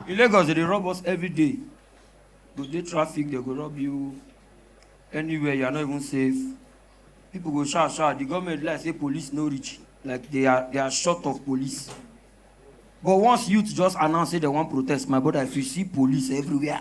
In Lagos dem dey rob us everyday, you go dey traffic dem go rob you, anywhere you are not even safe, pipu go shout shout di government be like sey police no reach like dey are dey are short of police but once youth just announce sey dem wan protest my broda if you see police everywhere.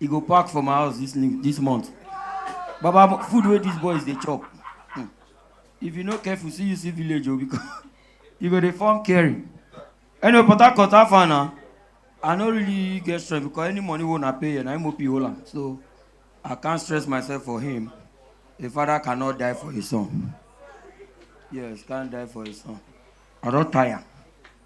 e go park for my house this new this month baba food wey these boys dey chop hmm. if you no careful see you see village o oh, because you go dey form caring anyway port harcourt how far na i no really get stress because any money wey una pay here na mop hold am so i can't stress myself for him a father cannot die for his son yes can't die for his son i don tire.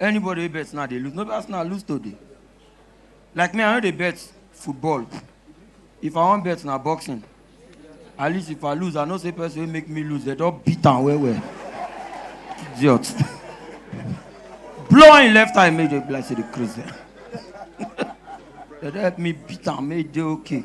anybody wey bet now dey lose no be arsenal lose today like me i no dey bet football if i wan bet na boxing at least if i lose i know say person wey make me lose dem don beat am well well idiot blow im left eye make e be like say dey craze dem don help me beat am make e dey okay.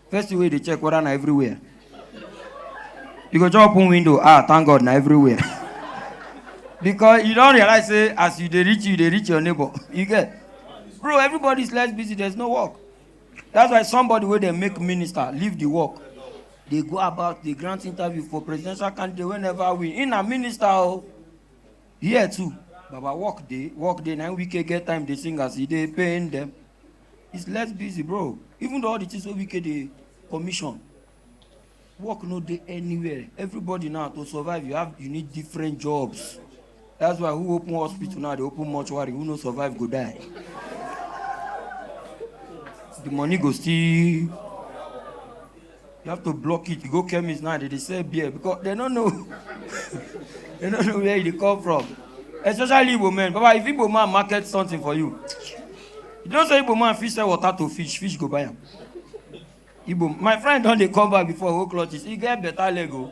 First thing wey you dey check whether na everywhere. You go just open window, ah, thank God na everywhere. Because you don realize say as you dey reach you, you dey reach your neighbor. You get? Bro, everybody is less busy, there's no work. That's why somebody wey dey make minister leave the work. Dey go about dey grant interview for presidential candidate wey never win. He na minister o. Here too, Baba work dey, work dey, na him Wike get time dey sing as e dey pain dem. is less busy bro even though all the things wey wike dey commission work no dey anywhere everybody now to survive you have you need different jobs that's why who open hospital now dey open mortuary who no survive go die the money go still You have to block it. You go chemist now, they, they sell beer because they don't know. they don't know where it come from. Especially Igbo men. Baba, if Igbo man market something for you, you don't say Igbo man fish sell water to fish, fish go buy am. Igbo, my friend don dey come back before whole clutches. He get better leg o.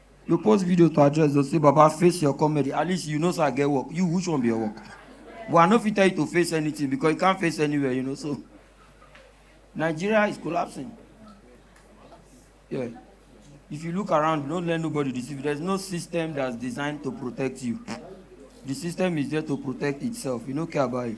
you post video to address those say baba face your comedy at least you know say i get work you which one be your work but i no fit tell you to face anything because you can't face anywhere you know so nigeria is collapsing yeah if you look around don't let nobody deceive you there's no system that's designed to protect you the system is there to protect itself you no care about it